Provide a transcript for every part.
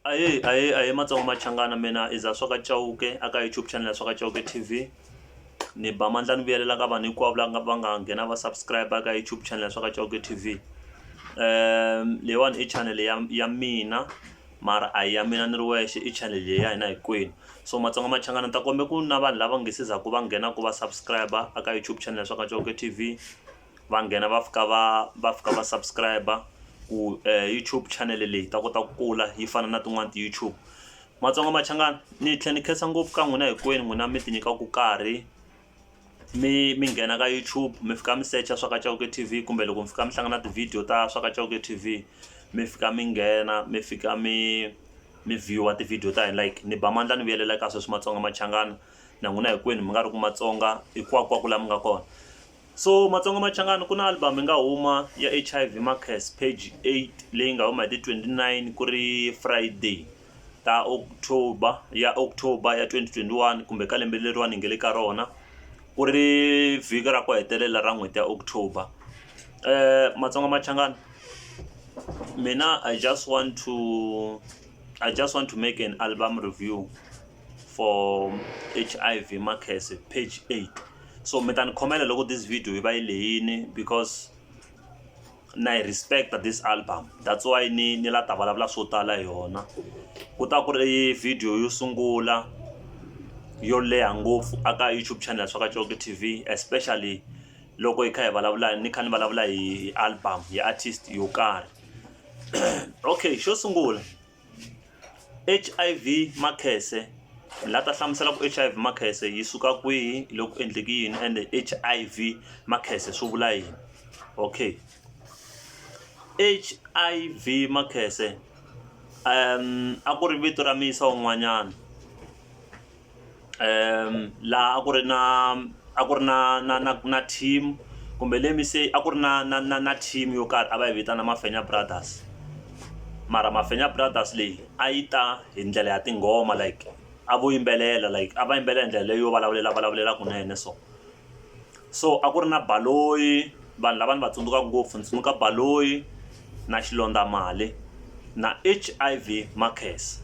Ahee ahee ahee matsonga machangani mina i Zaswa ka Chauke a ka YouTube channel ya Zaswa ka Chauke T_V ni ba mandla ni vuyelela ka vanhu hinkwavo la nga va nga nghena va subscribe ka YouTube channel ya Zaswa ka Chauke T_V leyiwani i channel ya ya mina mara a hi ya mina ni ri wexe i channel leyi ya hina hinkwenu so matsonga machangani ni ta kombela ku na vanhu lava nga se za ku va nghena ku va subscribe a ka YouTube channel ya Zaswa ka Chauke T_V va nghena va fika va va fika va subscribe ku YouTube channel leyi ta kota ku kula yi fana na tin'wani ti YouTube Matsonga Machangani ni tlhe ni khensa ngopfu ka n'wina hinkwenu n'wina mi ti nyikaku karhi mi mi nghena ka YouTube mi fika mi secha swa ka Chauke T_V kumbe loko mi fika mi hlangana ti-video ta swa ka Chauke T_V mi fika mi nghena mi fika mi mi view-a ti-video ta hina like ni ba mandla ni vuyelela ka sweswi Matsonga Machangani na n'wina hinkwenu mi nga ri ku Matsonga hinkwakunkwaku la mi nga kona So Matsonga Machangani ku na album yi nga huma ya H_I_V Markers page eight leyi nga huma hi ti twenty nine ku ri Friday ta October ya October ya twenty twenty one kumbe ka lembe leriwani hi nga le ka rona ku ri vhiki ra ku hetelela ra n'hweti ya October Matsonga Machangani mina I just want to I just want to make an album review. for hiv makhese page 8 so mi ta ni khomela loko this video yi va yi leyini because na yi respecta this album that's why ni ni la ta vulavula swo tala hi yona ku ta ku ri video yo sungula yo leha ngopfu aka youtube channel swa ka coke tv especially loko hi kha hi vulavula ni kha ni vulavula hi album hi artist yo karhi okay xo sungula H_I_V makhese la ta hlamusela ku H_I_V makhese yi suka kwihi loko ku endleke yini ende H_I_V makhese swi vula yini okay H_I_V makhese a ku ri vito ra muyisa un'wanyana. laha a ku ri na a ku ri na na na na team kumbe let me say a ku ri na na na na team yo karhi a va yi vitana Mafenya brothers mara Mafenya brothers leyi a yi ta hi ndlela ya tinghoma like a vo yimbelela like a va yimbelela hi ndlela leyo vulavulela vulavulela kunene so. so a ku ri na Baloyi vanhu lava ni va tsundzukaka ngopfu ndzi tsundzuka Baloyi na Xilondza Mali na H_I_V Makhensa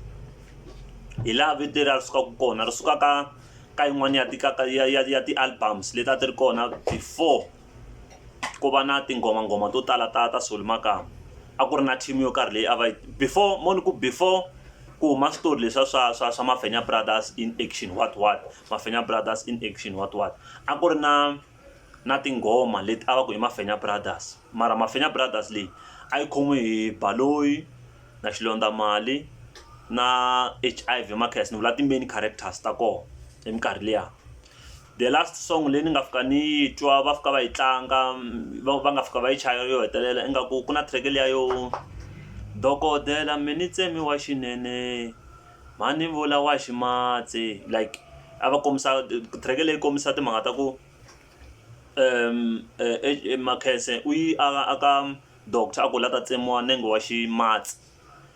hi laha vito leriya ri sukaka kona ri suka ka ka yin'wani ya ti ka ka ya ya ya ti albums leti a ti ri kona before ku va na tinghoma nghoma to tala ta ta Solly Makamu a ku ri na team yo karhi leyi a va yi before mo ni ku before ku huma switori leswiya swa swa swa mafenya brothers in action what what mafenya brothers in action what what a ku ri na na tinghoma leti a va ku i mafenya brothers mara mafenya brothers leyi a yi khomiwe hi baloyi na xilondza mali na h i v makhasi ni vula ti-main characters ta kona hi minkarhi liya The last song leyi ni nga fika ni yi twa va fika va yi tlanga va va nga fika va yi chaya yo hetelela ingaku ku na track liya yo dokodela mi ni tsemi wa xinene mhani vula wa ximatsi like a va kombisa track leyi kombisa timhaka ta ku Makhese u yi a ka doctor a ku la ta tsemiwa nenge wa ximatsi.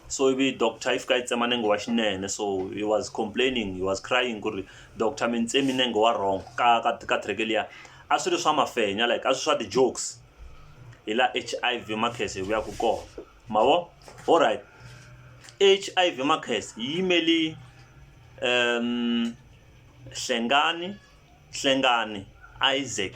so ivi doctor yi fika yi tsema nenge wa xinene so he was complaining he was crying ku ri doctor mi ni tsemi nenge wa wrong ka ka ka track liya a swi ri swa mafenya like a swi swa ti-jokes hi la H_I_V makhese hi vuyaku kona ma vo alright H_I_V makhese yi yimeli Hlengani Hlengani Isaac.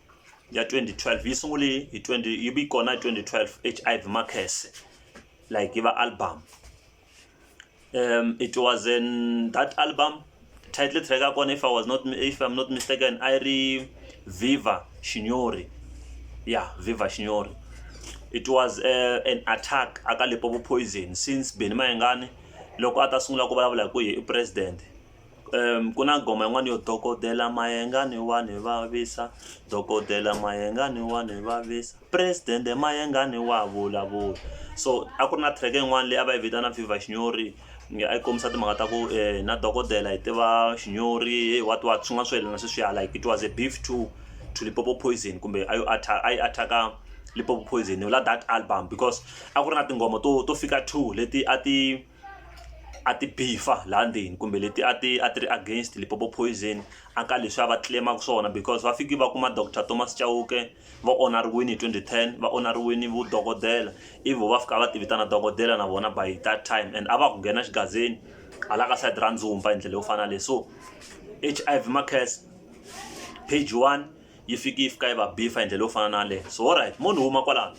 ya 2012 yi sunguli hi 20 yi vi kona hi 2012 hiv makhese like yi va album um it was in that album title track ya kona if i was not if i'm not mistaken i ri viva shinyori yeah viva shinyori it was uh, an attack aka lipopo poison since beni mayengani loko a ta sungula ku vulavula hi ku ye i president ku na nghoma yin'wani yo dokodela mayengani wa ni vavisa dokodela mayengani wa ni vavisa president-e mayengani wa vulavula so a ku ri na track-e yin'wani leyi a va yi vitana viva xinyori a yi kombisa timhaka ta ku na dokodela hi tiva xinyori he wa twa swin'wana swo yelana sweswiya like it was a beef to to Limpopo poison kumbe a yo a yi attack-a Limpopo poison la that album because a ku ri na tinghoma to to fika two leti a ti. a ti beef-a laha ndzeni kumbe leti a ti a ti ri against Limpopo poison a ka leswi a va claim-aka swona because va fiki va kuma doctor Thomas Chauke va onariwile hi twenty ten va onariwile vudokodela ivi vo va fika va ti vitana dokodela na vona by that time and a va ha ku nghena xigazeni hala ka side ra ndzumba hi ndlela yo fana na leyi so H_I_V Makhese page one yi fike yi fika yi va beef-a hi ndlela yo fana na yaleyo so ho right mo ni huma kwalano.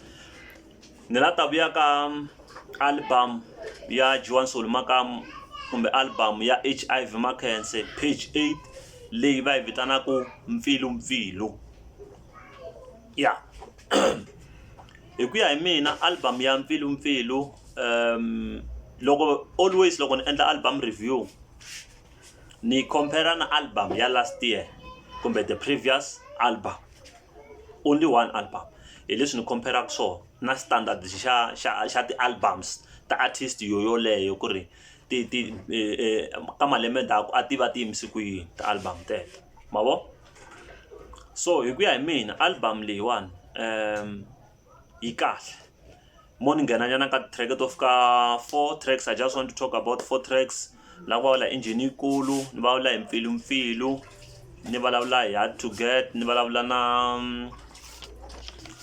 ni la ta vuya ka album ya Joan Solo Makamu kumbe album ya HIV Mackense page 8 leyi va yi vitanaka mpfilu mpfilu ya hi ku ya hi mina album ya mpfilu mpfilu um loko always loko ni endla album review ni compare na album ya last year kumbe the previous album only one album hi leswi ni compare-aka swona na standard xa xa xa ti-albums ta artist yo yoleyo ku ri ti ti e, ka malembe ndzhaku a ti va ti yimise ku yini ti-album teto ma vo so hi ku ya hi mina album leyiwani um yi kahle mo ni nghena nyana ka ti-track to fika four tracks I just want to talk about four tracks la ku vulavula hi engine yikulu ni vulavula hi mpfilumpfilu ni vulavula hi hard to get ni vulavula na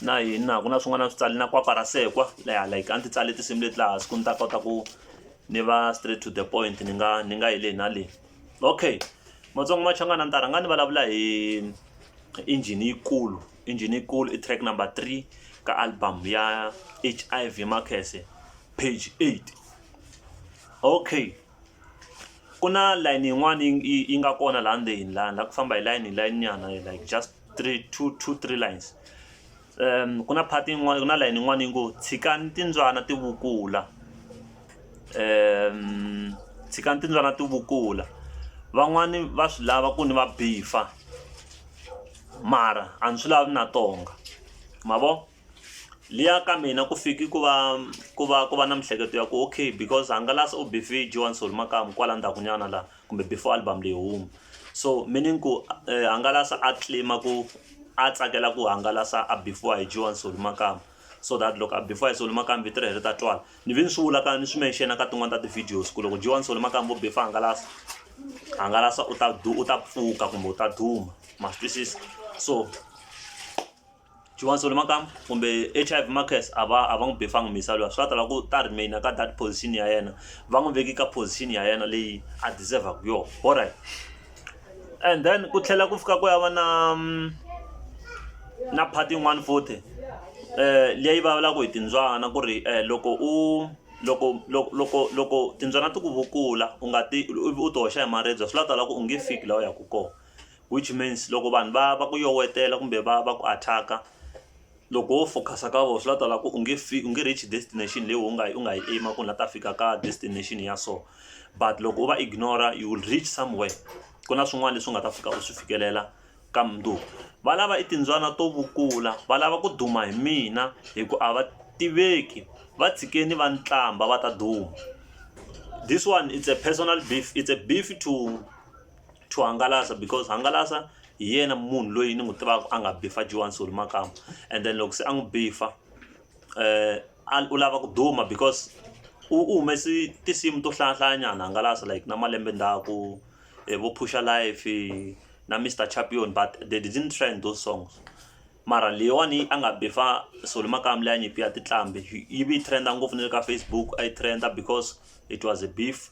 na yini na ku na swin'wana swi tsali na kwapa ra sekwa leha like a ni ti tsali tinsimu leti laha siku ni ta kota ku ni va straight to the point ni nga ni nga yi le na le okay matsongo machangana ni ta rhanga ni vulavula hi engine yikulu Injhenikulu i track number three ka album ya hiv makhese page 8 okay ku na layini yin'wana yi yi nga kona laha ndzeni laha la ku famba hi layini hi layini nyana like just three two two three lines um ku na phati yin'wana ku na layini yin'wana yi ngo tshikani timbyana ti vukula um tshikani timbyana ti vukula van'wani va swi lava ku ni va bifa mara a ni swi lavi na tonga ma vo liya ka mina ku fiki ku va ku va ku va na miehleketo ya ku okay because hangalasa u bife joan sol makamu kwala ndzhaku nyana laha kumbe before album leyi huma so meaning ku hangalasa a tlima ku a tsakela ku hangalasa a bifiwa hi joan sol makamu so that loko before i solimakambi ti ri heri ta twala ni vi ni swi vula ka ni swi menxena ka tin'wana ta ti-videos ku loko jiwani solimakambi vo before hangalasa hangalasa u ta u ta pfuka kumbe u ta duma ma swi twisisa so jiwani solimakambi kumbe h i v markes a va a va n'wi befangi misa luya swi va tala ku ta remaina ka that position ya yena va n'wi veki ka position ya yena leyi a deservaka yona alright and then ku tlhela ku fika ku ya va na na part yin'wani futhi leyi vulavulaka hi timbyana ku ri loko u loko loko loko loko timbyana ti ku vukula u nga ti u ti hoxa hi maribye swi la ku tala ku u nge fiki laha u yaka kona which means loko vanhu va va ku yowetela kumbe va va ku attack-a. Loko wo focus-a ka vona swi la ta lava ku u nge u nge reach destination leyi wena u nga yi u nga yi aim-a ku ni la ta fika ka destination ya so but loko u va ignore-a you will reach somewhere ku na swin'wana leswi u nga ta fika u swi fikelela ka mundzuku va lava i timbyana to vukula va lava ku duma hi mina hi ku a va tiveki va tshikeni va ni tlamba va ta duma this one it's a personal beef it's a beef to to hangalasa because hangalasa hi yena munhu loyi ni n'wi tivaka a nga bifa joan soli makamba and then loko se a n'wi bifa um u lava ku duma because u u humesi tinsimu to hlayahlayanyana hangalasa like na malembe ndhaku eh, vo pusha life na mr champion but they didn't trend those songs mara leyiwani a nga bifa soli makamba leyi a nyipi ya titlambi yi vi yi trenda ngopfu ni le ka facebook a yi trenda because it was a beef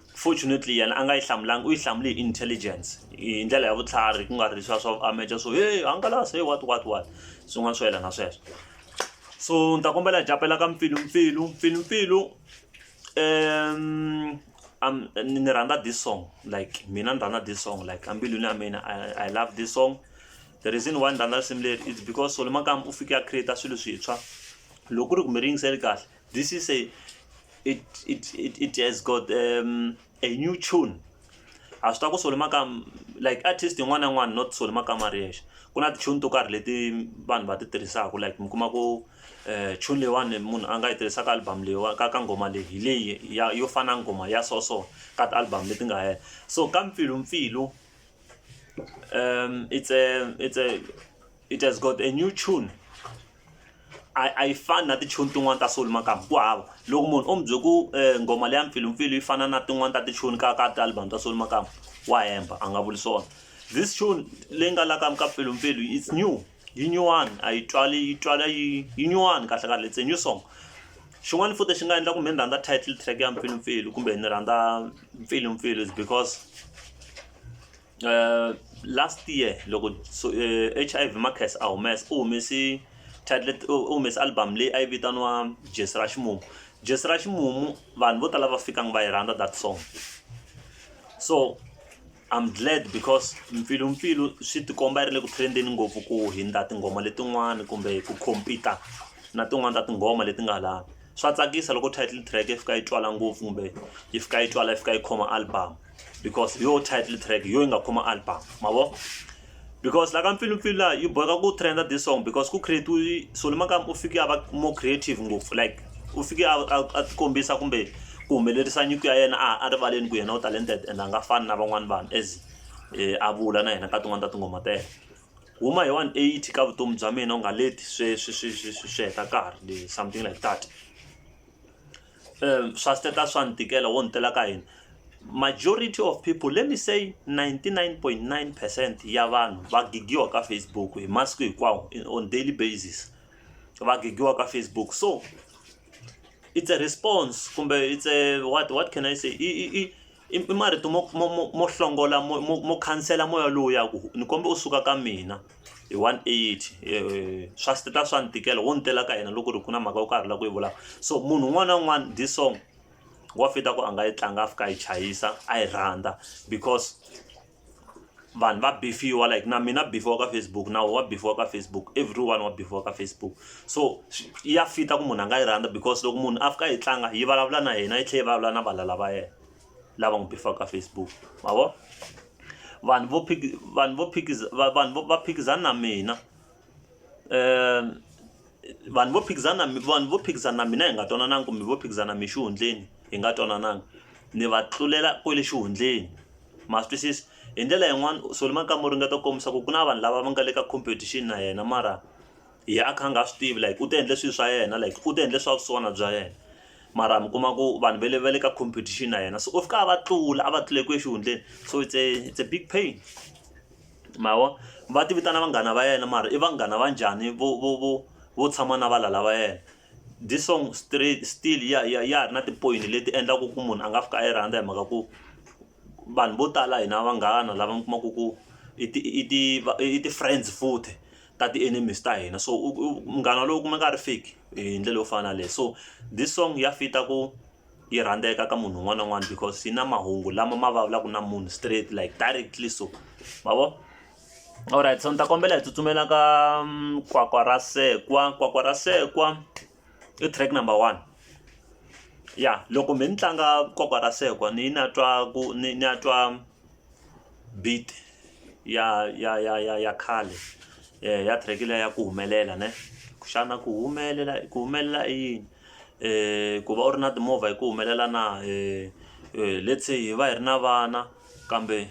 fortunately yena a nga yi hlamulanga u yi hlamule hi intelligence hi ndlela ya vutlhari ku nga ri leswiya swa ameja swo he hangalasa he what what what swin'wana swo yelana sweswo so ni ta kombela hi capela ka mpfilumpfilu mpfilumpfilu um um ni rhandza this song like mina ni rhandza this song like ambilwini ya mina I, i love this song the reason why ni rhandza risimu leri is because solo makamba u fike a create swilo swintshwa loko ku ri kumbe ri yingiseli kahle This is a it it it, it has got um, a new tune a swi ta ku solo makam like artist yin'wana na yin'wana not solo makama ri yexe ku na ti-tune to karhi leti vanhu va ti tirhisaka like mi kuma ku um tune leyiwani munhu a nga yi tirhisaka album leyiwani ka ka nghoma leyi hi leyi ya yo fana nghoma ya so so ka ti-album leti nga hela so ka mpfilumpfilu um it's a it's a it has got a new tune a a yi fani na tichoni tin'wani ta Soul Makamu ku hava loko munhu o mi bye ku nghoma leya mpfilumpfilu yi fana na tin'wani ta tichoni ka ka ti-album ta Soul Makamu wa hemba a nga vuli swona this tune leyi nga la ka ka mpfilumpfilu it's new yi nyuwani a yi twali yi twala yi yi nyuwani kahle kahle it's a new song xin'wani futhi xi nga endla ku me ni rhandza title track ya mpfilumpfilu kumbe ni rhandza mpfilumpfilu is because. uh, last year loko so, uh, eh, hiv marcus a humesa u humese title u humese album leyi a yi vitaniwa jesi ra ximumu jesi ra ximumu vanhu vo tala va fikanga va yi rhandza that song so i'm glad because mpfilumpfilu swi tikomba yi ri le ku trendeni ngopfu ku hindza tinghoma letin'wani kumbe ku compete na tin'wani ta tinghoma leti nga lavi swa tsakisa loko title track yi fika yi twala ngopfu kumbe yi fika yi twala yi fika yi khoma album because hi yo title track hi yo yi nga khoma album ma vo because la ka mpfilumpfilu laha yi boheka ku trenda this song because ku create-iwe soli makama u fike a va more creative ngopfu like u fike a a tikombisa kumbe ku humelerisa nyiko ya yena a a rivaleni ku yena u talented and a nga fani na van'wani vanhu as um a vula na yena ka tin'wani ta tinghoma ta yena huma hi one eighty ka vutomi bya mina u nga leti swe swi swi swi swi swi heta nkarhi something like that um swa siteta swa ni tikela wo ni tela ka yini majority of people let me say 99.9 percent ya vanhu va gigiwa ka facebook hi masiku hinkwawo on daily basis va gigiwa ka facebook so it's a response kumbe it's a what what can i say i, i, i I i marito mo mo mo mo hlongola mo mo mo khansela moya lowuya ku ni komba u suka ka mina hi one eight swa swi ta swa ni tikela wo ni tela ka yena loko ku ri ku na mhaka yo karhi la ku yi vulaka so munhu un'wana na un'wana this song wa fit-a ku a nga yi tlanga a fika a yi chayisa a yi rhandza because. vanhu va bifiwa like na mina bifiwa ka facebook nawu wa bifiwa ka facebook everyone wa bifiwa ka facebook so ya fita ku munhu a nga yi rhandza because loko munhu a fika yi tlanga yi vulavula na yena yi tlhela yi vulavula na valala va yena lava n'wi bifiwaka ka facebook ma vo vanhu vo vanhu vo vanhu va phikizana na mina um vanhu vo phikizana mi vanhu vo phikizana na mina hi nga twanananga kumbe vo phikizana mi xihundleni hi nga twanananga ni va tlulela kwele xihundleni ma swi twisisa hi ndlela yin'wani Solly Makamu u ringeta ku kombisa ku ku na vanhu lava va nga le ka competition na yena mara yena a kha a nga swi tivi like u ti endle swilo swa yena like u ti endle swa vusiwana bya yena mara mi kuma ku vanhu va le va le ka competition na yena so u fika a va tlula a va tlule kwihi exihundleni so it's a it's a big pain. ma vo va ti vitana vanghana va yena mara i vanghana va njhani vo vo vo vo tshama na valala va yena this song straight still ya ya ya ha ri na tipoyini leti endlaka ku munhu a nga fika a yi rhandza hi mhaka ku vanhu vo tala hina vanghana lava mi kumaka ku i ti i ti i ti friends futhi ta ti enemies ta hina so u munghana loyi u kuma nga ri fake hi ndlela yo fana na yaleyo so this song ya fit-a ku. yi rhandzeka ka munhu un'wana na un'wana because yi na mahungu lama ma vulavulaka na munhu straight like directly so ma vo alright so ni ta kombela hi tsutsumela ka mm, kwakwa ra sekwa kwakwa ra sekwa i track number one ya loko mi ni tlanga kwakwa ra sekwa ni na twa ku ni ni ya twa beat ya ya ya ya ya khale eh, ya track leya ya ku humelela ne xana ku humelela ku humelela i yini ku va u ri na timovha hi ku humelela na let's say hi va hi ri na vana kambe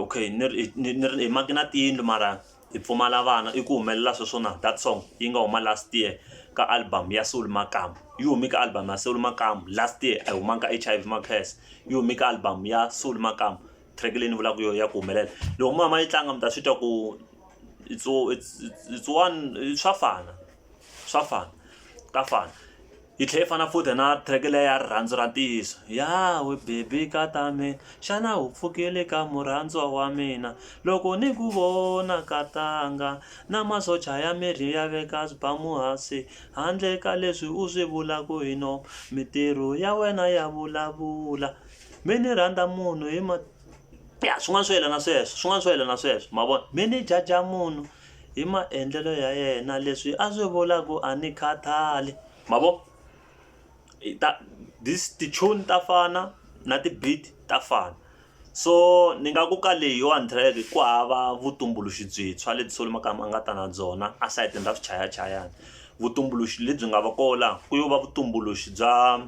okay ni ri ni ni ri hi maki na tiyindlu mara hi pfumala vana i ku humelela sweswo na that song yi nga huma last year ka album ya soul makamu yi humi ka album ya soul makamu last year a yi humanga ka H_I_V makhese yi humi ka album ya soul makamu track leyi ni vulaka hi yona ya ku humelela loko mi ya mi ya yi tlanga mi ta swi twa ku it's it's it's one swa fana. swa fana ka fana yi tlhela yi fana futhi na track leyi ya rirhandzu ra ntiyiso ya we baby ka ta mina xana u pfukile ka murhandziwa wa mina loko ni ku vona ka tanga na masocha ya miri ya veka swibamu hansi handle ka leswi u swi vulaka hi no mintirho ya wena ya vulavula mi ni rhandza munhu hi ma ya swin'wana swo yelana sweswo swin'wana swo yelana sweswo ma vona mi ni jaja munhu Hi maendlelo ya yena leswi a swi vula ku a ni khathali ma vo i ta this ti-tune ta fana na ti-beat ta fana so ni nga ku ka leyiwani track ku hava vutumbuluxi byintshwa lebyi Solly Makamu a nga ta na byona a sayitini ra swichayachayani vutumbuluxi lebyi nga va ko la ku yo va vutumbuluxi bya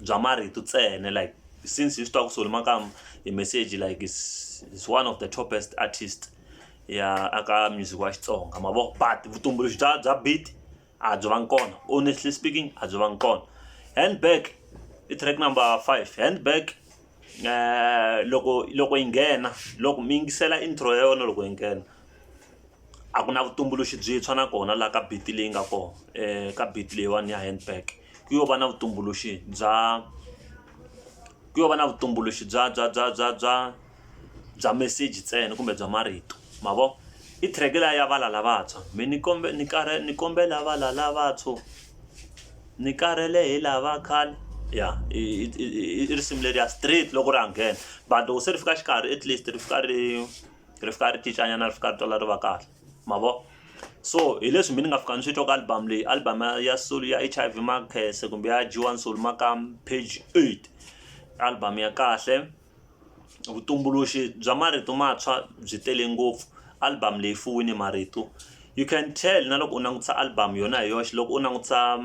bya marito ntsena like since hi swi tiva ku Solly Makamu hi message like is one of the topest artist. ya aka music wa xitsonga ma vo but vutumbuluxi bya bya beat a byi vangi kona honestly speaking a byi vangi kona handbag i track number five handbag um loko loko yi nghena loko mi yingisela intro ya yona loko yi nghena a ku na vutumbuluxi byintshwa na kona laha ka beat leyi nga kona um ka beat leyiwani ya handbag ku yo va na vutumbuluxi bya ku yo va na vutumbuluxi bya bya bya bya bya bya meseji ntsena kumbe bya marito ma vo i track leya ya vala lavantshwa mi ni kombe ni karhi ni kombela vala lavantshwa ni karhele hi lava khale ya i risimu leri ya straight loko ri ha nghena but loko se ri fika xikarhi at least ri fika ri ri fika ri cincanyana ri fika ri twala ri va kahle ma vo so hi leswi mina ni nga fika ni swi twa ka album leyi album ya soul ya H_I_V makhese kumbe ya dyiwa ni soul maka page eight album ya kahle. Vutumbuluxi bya marito mantshwa byi tele ngopfu album leyi fuwini marito you can tell na loko u langutisa album yona hi yoxe loko u langutisa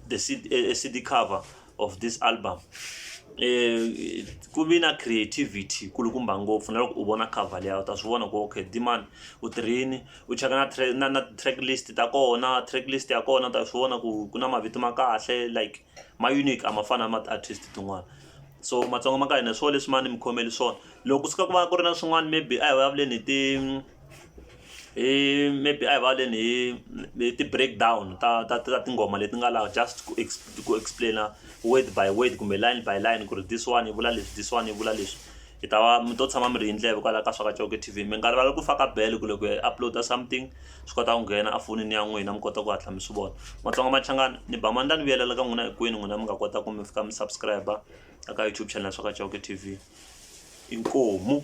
the C_D cover of this album ku vi na creativity yi kulukumba ngopfu na loko u vona cover leyi u ta swi vona ku okay Dee-man u tirhe yini u cheka na track na na track list ta kona track list ya kona u ta swi vona ku ku na mavito ma kahle like. ma unique a ma fani na ma ti-artist tin'wana so matsonga ma ka hina hi swona leswi ma ni mi khomele swona loko ku suka ku va ku ri na swin'wana maybe a hi vulavuleni hi ti hi maybe a hi vulavuleni hi hi ti-break down ta ta ta tinghoma leti nga laha just ku ku explain-a word by word kumbe line by line ku ri this one yi vula leswi this one yi vula leswi. mi ta va mi to tshama mi ri hi ndleve kwalaho ka swa ka Chauke T_V mi nga rivali ku faka bell ku loko hi upload something swi kota ku nghena a fonini ya n'wina mi kota ku hatla mi swi vona Matsonga Machangani ni ba mandla ni vuyelela ka n'wina hinkwenu n'wina mi nga kota ku mi fika mi subscribe eka YouTube channel swa ka Chauke T_V inkomu.